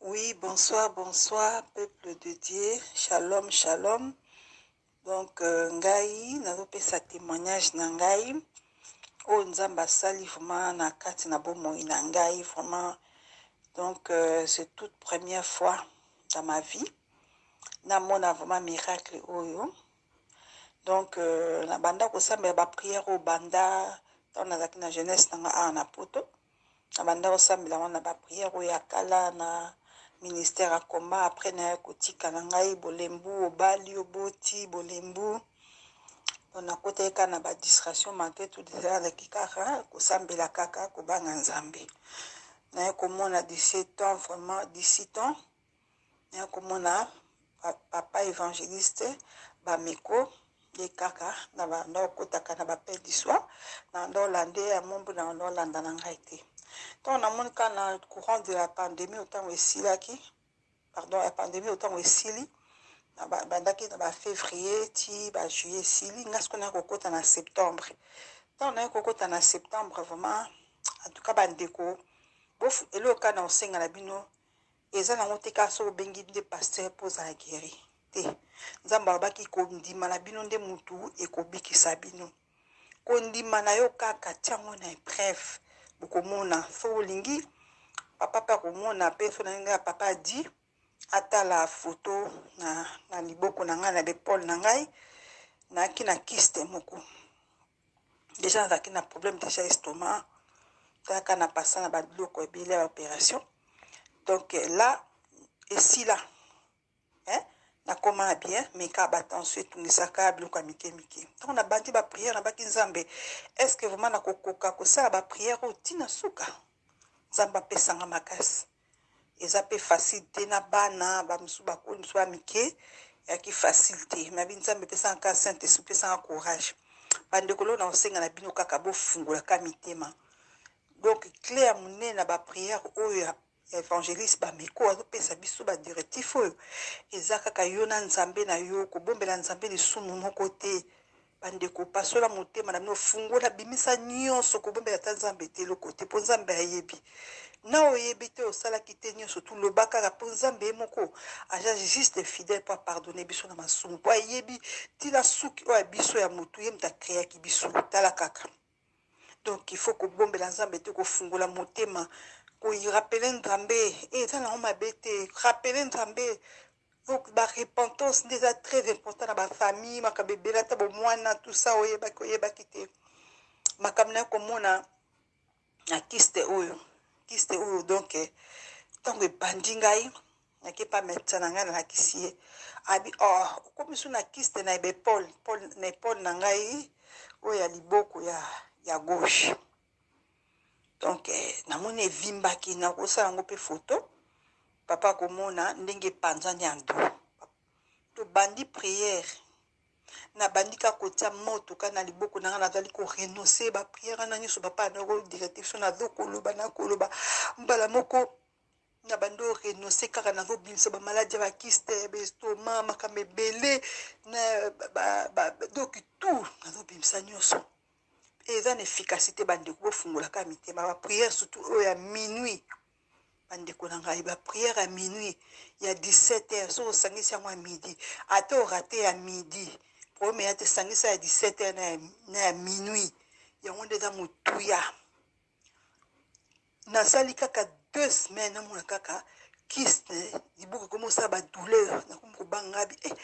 Oui, bonsoir, bonsoir, peuple de Dieu, shalom, shalom. Donc, euh, ngai, nazopesa témoignage na ngai. oyo nzambe asali vraiment na kati na bomoi na ngai vraiment donc euh, c'est toute première fois dans ma vie namona vraiment miracle oyo donc euh, nabanda kosambela baprière oyo banda ntango nazalaki na jeunesse na ngai awa na poto na banda kosambela yango na bapriere oyo ya kala na ministère akoma après naye kotika na ngai bolembu obali oboti bolembu nakotaki kaka na badistraction malgré tout ezalaki kaka kosambela kaka kobanga nzambe naye komona 17 ans vraiment 17 ans ya komona papa évangéliste bameko ye kaka na banda okotaka na bapel du soir na banda olande ya mombu na banda olanda na ngai te ntango namoni kaka na courant de la pandémie otango esilaki pardon ya pandémie otango esili bandaki na bafévrier ti bajuillet esili ngai sikoyo naye kokota na septembre ntango naye kokota na septembre vraiment en tout cas bandeko eloko kaka na kosenga na bino eza nango te kaka soki obengi nde pasteur mpo ozala gueri te nzambe alobaki kondima na bino nde motu ekobikisa bino kondima na yo kaka tiango na epreuve bokomona so olingi papa mpe akomona mpe so na ndenge ya papa adi atala foto na, na liboko na ngai na bepole na ngai nayaki na kiste moko deja nazalaki na problème deja estomac kaka na pasa na babiloko ebele ya opération donc euh, là esila hein? nakoma na bien mais kaka batension etungisaka biloko ya mike mike ntango nabandi bapriere nabaki nzambe est ce que vraiment nakokoka kosala bapriere oyo ntina suka nzambe apesanga makasi eza pe facile te na bana bamosusu bakoli mosusu ba mike yaki facile te mabi nzambe epesaka kaka saint esprit epesaka courage bandeko leo nakosenga na bino kaka bofungolaka mitema donc cle ya monene na baprière oyo ya évangéliste bameko azopesa biso badirectif oyo eza kaka yo na nzambe na yo kobombela nzambe lisumu moko te bandeko pasola motema na bino fungola bimisa nyonso kobombela ata nzambe te eloko te mpo nzambe ayebi na oyebi te osalaki te nyonso tu loba kaka mpo nzambe ye moko aja juste fidèle mpo apardonne biso na masumu mpo ayebi ntina suki oyo ya biso ya motu ye moto akreaki biso tala kaka donc il faut kobombela nzambe te kofungola motema koirapele nzambe eh, eza nango mabe te rapele nzambe donc barepentance nde eza très important na bafamille makambo ebele ata bomwana tout ça oyebaki oyebaki te makambo na yo komona na kiste oyo kiste oyo donc eh, ntango ebandi ngai nake pa medecin na ngai nalakisi ye abi oh, okomi su na kiste na ebepole na epole na ngai oyo ya liboko ya, ya gauche donc eh, namoni evimbaki nakosala yango mpe foto papa akomona ndenge epanzani ya ndo tobandi priere nabandi ka kotia moto ka na liboko na ngai nazali korenonce bapriere wana nyonso bapaa nako directive so nazokoloba nakoloba mbala moko na bando renonce kaka na kobimisa bamaladi ya bakiste ya bestoma makambo ebele na badoki tour nazobimisa nyonso eza na efficacité bandeko bofungolaka mitema baprière surtout oyo ya minuit bandeko na ngai baprière ya minuit ya 17 heure soki osangisi yango ya midi ata orate ya midi problème eya te sangisa ya 17 heure na ya minuit yango nde eza motuya nasali kaka deux semaines namona kaka kiste libuku ekomi osala badouleur nakomi kobanga bi eh,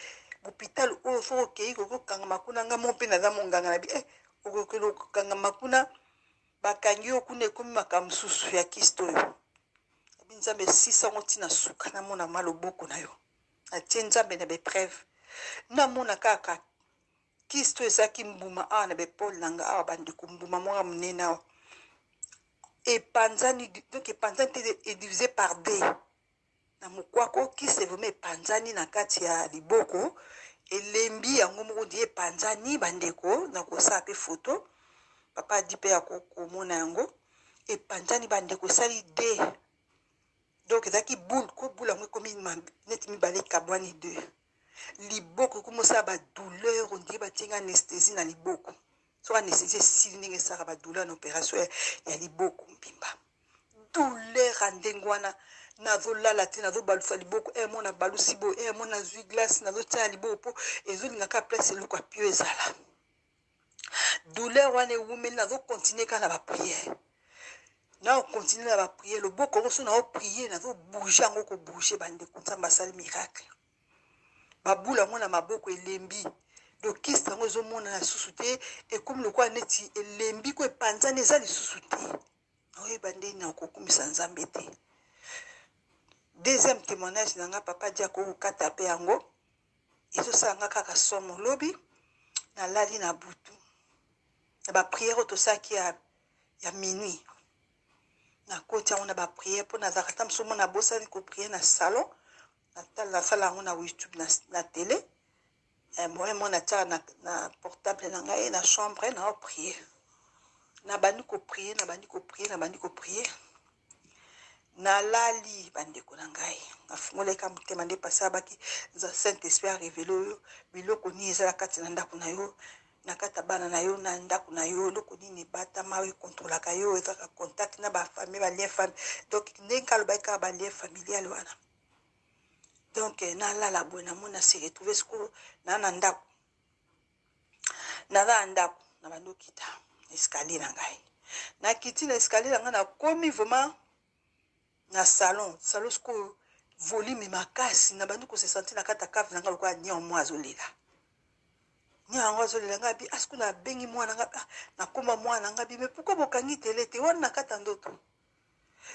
hôpital oyo fo okei koki kokangama kuna nga mo mpe naza monganga na bi eh, okokeli kokangama kuna bakangi yo kuna ekomi makambo mosusu ya kiste oyo abi nzambe esisa yango ntina suka namona ma loboko na yo atie nzambe na bepreuve namona kaka Kisto ezaki mbuma awa na bepole na nga awa bandeko mbuma mwaka monene awa epanzani donc epanzani te edivise par d na mokwako kiste vraimen epanzani na kati ya liboko elembi yango moko di epanzani bandeko na kosala mpe foto papa adi mpe ya komona yango epanzani bandeko esali d donc ezalaki boule ko boule yango ekomi neti mibale ekabwani deux liboko ekomi osala badouleur ondire batie nga anesthésie na liboko so anesthésie esili ndenge esalaka badouleur na opération ya liboko mbimba douleur ya ndenge wana nazolala te nazobalusa liboko e eh, mo nabalusi boye e eh, mo nazwi glace nazotia na liboko mpo ezolinga kaka place eloko apio ezala douleur wana ewumeli nazo continue kaka na bapriere nao continue na bapriere loboko yango so nao priere nazo bouge yango kobouge bandeko nzambe asali miracle babula yango na maboko elembi dokiste yango ezomonana lisusu te ekomi lokola neti elembi ko epanzani eza lisusu te naoyeba nde nakokumisa nzambe te deuxième témoignage na nga papa diako okata mpe yango ezosala nga kaka somo lobi nalali na butu na bapriere oyo tosalaki ya, ya minuit nakoti yango na bapriere mpo nazalaka ta mosusu mona abosani kopriere na salon nasala yango na youtube na, na tele eh, moye mo natiaka na, na portable na ngai na chambre na opriere nabandi kopriere nabandi kopriere nabandi kopriere nalali bandeko na ngai nafungolaka motema nde pasi abaki za saint esprit arevele oyo biloko nini eza na kati na ndako na yo na kati ya bana na yo na ndako na yo eloko nini ebatama oyo ekontrolaka yo ezaka contact na bafamille balien famille donc ndenge alobaki kaka balien familial wana donc eh, nalala boye namona se retrouve sikoyo na na ndako naza na ndako na bandi okita escalier na ngai nakiti na escalier na ngai nakomi vraiment na salon salon sikoyo volume makasi na bandi kose sentir na kati ya cave na ngai lokola nion mwa azolela ni yango azolela ngai abi asiko ah, nabengi mwana ngai ah, nakoma mwana ngai abi me pourkui bokangi tele te wana na kati ya ndoto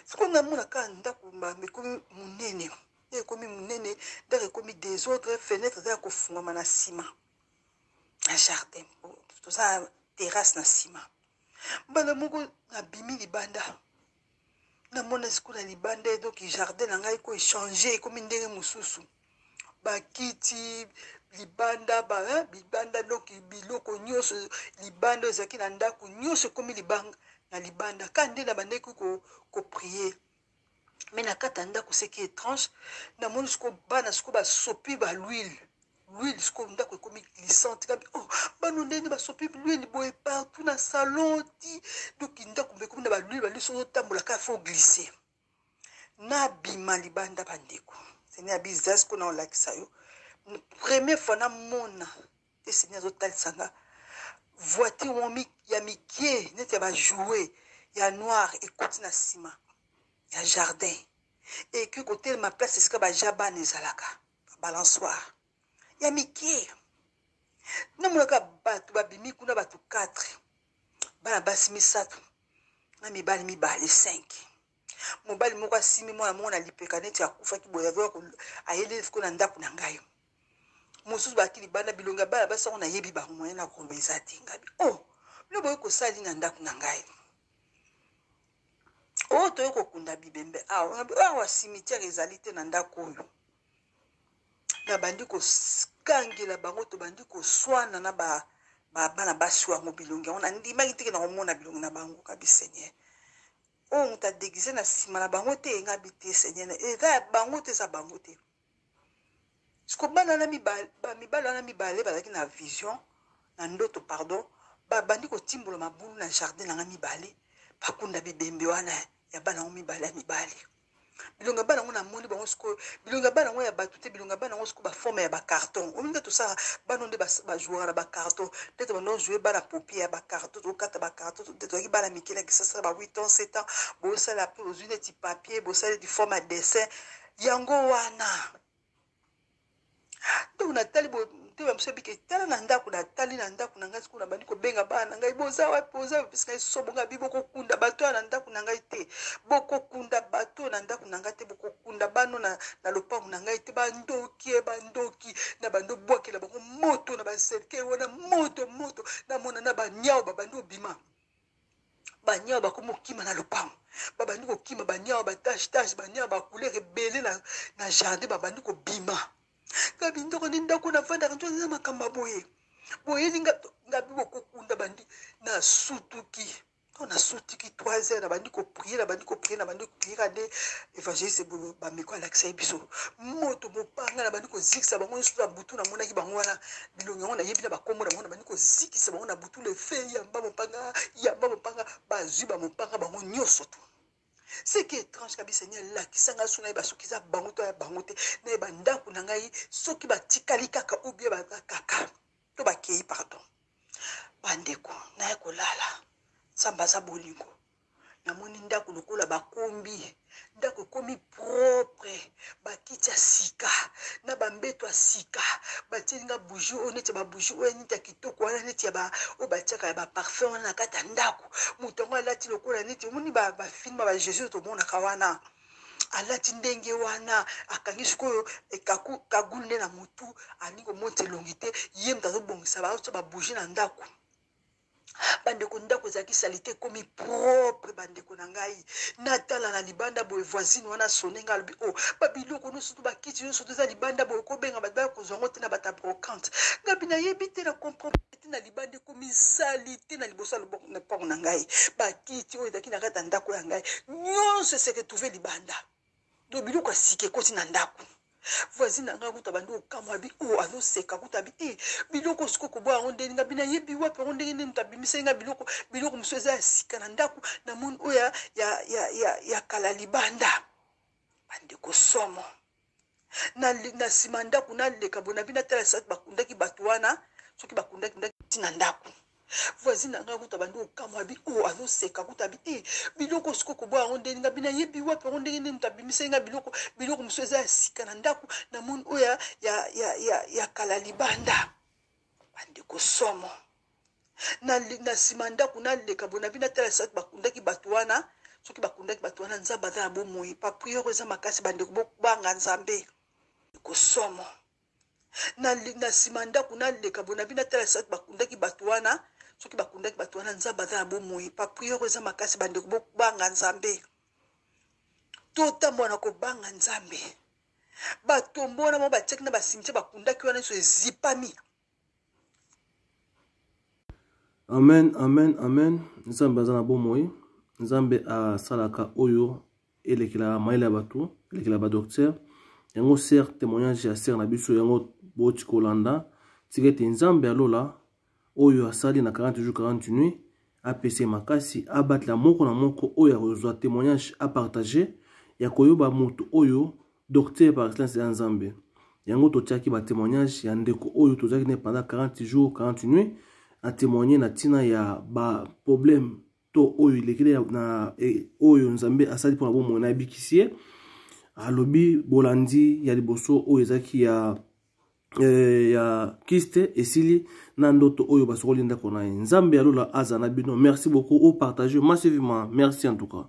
sikoyo namona kaka ndako ekomi monene ekomi monene ndako ekomi desordre fenêtre eza ya kofungama na nsima na jardin toza na terrasse na nsima mbala moko nabimi libanda namona sikoyo na libanda edoki jardin na ngai ko echange ekomi ndenge mosusu bakiti libanda ba libanda doki biloko nyonso libanda ezalaki na ndako nyonso ekomi libanga na libanda ka nde na bandeki koprie ko me na kati ya ndako seki étrange namoni siko bana siko basopi ba lwile lwile siko ndako ekomi glissante kabi oh, bano ndenge basopi lwile boye partout na salon ti doki ndako mpe ekomi na balwile balisi ozotambola kaka fo glisse nabima libanda bandeko sene ya bizas mpo na olakisa yo première fois namona eseni azotalisa nga voiture mo ya mikie neti ya bajoue ya noir ekoti na nsima ya jardin eki kotelema place esika baja bana ezalaka balansoire ya mikie namonaka bato babimi kuna bato 4 bana basi misato na mibali mibale 5 mobali moko asimi mwana moko na lipeka neti akufaki boye ayeli ko na ndako na ngai mosusu baki libanda bilongi ya bana basi yango nayebi bango moyen na koloba eza te ngabi o oh, bino boye kosali na ndako na ngai oyo oh, toye kokunda bibembe awa ah, awa cimetière ezali te na ndako oyo nabandi kokangela bango tobandi koswana na ba bana basi yango bilongi yango nandimaki teke na komona bilongi na bango kabi seigneur oyo moto adegize na nsima na bango te engabi te seigneur eza ya bango te eza bango te siko bana wana mibale mibale wana mibale bazalaki na vision na ndoto pardon babandi kotimbola mabulu na jardin na ngai mibale bakunda bibembe wana ya bana yango mibale ya mibale bilonga bana yango namoni bango sikoyo bilonga bana yango ya bato te bilonga bana yango sikoyo baforme ya bacarton omi nde tosala bana nde bajouaka na bacarton nde to bando joue bana popie ya bacarton tokata bacarton nde tozalaki bana mike na kisasa ba 8 ans 7 ans bosala mpo ozwi neti papier bosali du forme ya dessin yango wana ntango natali motema biso ebike tala na ndako natali na ndako na ngai sikona bandi kobenga bana na ngai boza wapi boza bapesi ngai sobo ngai bi bokokunda bato oyo na ndako na ngai te bokokunda bato oyo na ndako na ngai te bokokunda bano na, na lopango na ngai te bandoki e bandoki na bando bwakela bango moto na baserkei wana moto moto namona na banyao babandi obima baniawa bakomi kokima na lopango babandi kokima baniawa batache tache baniawa bacouleur ebele na, na jardin babandi kobima gabi ndoko nde ndako na vandaka nto eza makambo ya boye boyeli ngabi bokokunda bandi na sutuki to na sutiki 3 heures nabandi koprie nabandi koprie nabandi koprie kade évangéliste ebolo bameko alakisa ye biso moto mopanga nabandi kozikisa bango nyonso na butu namonaki bango wana bilongi yango nayebi na bakombo na bango nabandi kozikisa bango na butu tous les faits yamba mopanga yamba mopanga bazwi bamopanga bango nyonso tu ce qui est étrange kabisa ni alakisa ngai so nayeba soki eza bango to ya bango te nayeba ndako na ngai soki batikali kaka ou bien baza kaka to bakei pardon bandeko naye kolala nzambe aza bolingo namoni ndako lokola bakombi ndako ekomi propre bakiti ya sika na bambeto ya sika batie nga bougie oyo neti ya babougie oyo neti ya kitoko wana neti ya oyo batiaka ya baparfum wana na kati ya ndako moto yango alati lokola neti omoni bafilme ba jésus oyo tomonaka wana alati ndenge wana akangi sikoyo eh, kagulu nde na motu alingi komonisa elongi te ye moto azobongisa baotia babougie na ndako bandeko ndako ezalaki salite ekomi propre bandeko na ngai natala na libanda boye voisine wana sone ngai alobi o oh, babiloko nyonso to bakiti nyonso to eza libanda boye kobenga bato baya kozwa yango te na bato ya brocante ngabi nayebi te na comprendre te na libanda ekomi salite na liboso na mpango na ngai bakiti oyo ezalaki na kati ya ndako ya ngai nyonso eseretrouve libanda donc biloko ya sika ekoti na ndako voisine na ngai kuta bandi okamwa abi o oh, azoseka kuta abi e eh, biloko osiko koboya yango ndenge ngai bina yebi wapi yango ndenge nini tabimiseli ngai biloko biloko mosusu eza ya sika na ndako na moni oyo ya, ya, ya, ya, ya kala libanda bandeko somo na, na nsima ndako naleka boye nabi natala soki bakundaki bato wana soki bakundaki ndaki ntina ndako voisine na ngai kuta bandi kokamwa bi o oh, azoseka kuta bi e eh, biloko siko koboya yango ndenge nga bina yebi wapi yango ndenge nini moto abimisaki nga biloko biloko mosusu eza ya sika na ndako na moni oyo ya, ya, ya, ya, ya kala libanda bandeko somo na nsima ya ndako naleka boye nabi natala soki bakundaki bato wana soki bakundaki bato wana nzambe aza na bomoi bapriere oyo eza makasi bandeko bobanga nzambe ekosomo na nsima ya ndako naleka boye nabi natala soki bakundaki bato wana soki bakundaki bato wana nzambe aza na bomoi bapriere oyo eza makasi bandeko bobanga nzambe totambola na kobanga nzambe batombo wana mo batiaki na basimitiere bakundaki wana nyonso ezipami amen amen amen nzambe aza na bomoi nzambe asalaka oyo elekela mayele ya bato elekela badoktere yango ser témoignage ya ser na biso yango boti kolanda tika ete nzambe ya lola oyo asali na 40 jours 40 nuit apesa ye makasi abatela moko na moko oyo akozwa témoignage apartage ya koyoba moto oyo docteur par excellence ya nzambe yango totiaki batémoignage ya ndeko oyo tozalaki naye pendant 40 jours 40 nuit atémoigne na ntina ya baproblème to oyo elekeli na e, oyo nzambe asali mpo na bomoi na abikisi ye alobi bolandi ya liboso oyo ezalaki ya eh, ya kiste esili na ndoto oyo basokoli ndako na ye nzambe ya lola aza na bino merci beaucoup opartage masivement merci en tout cas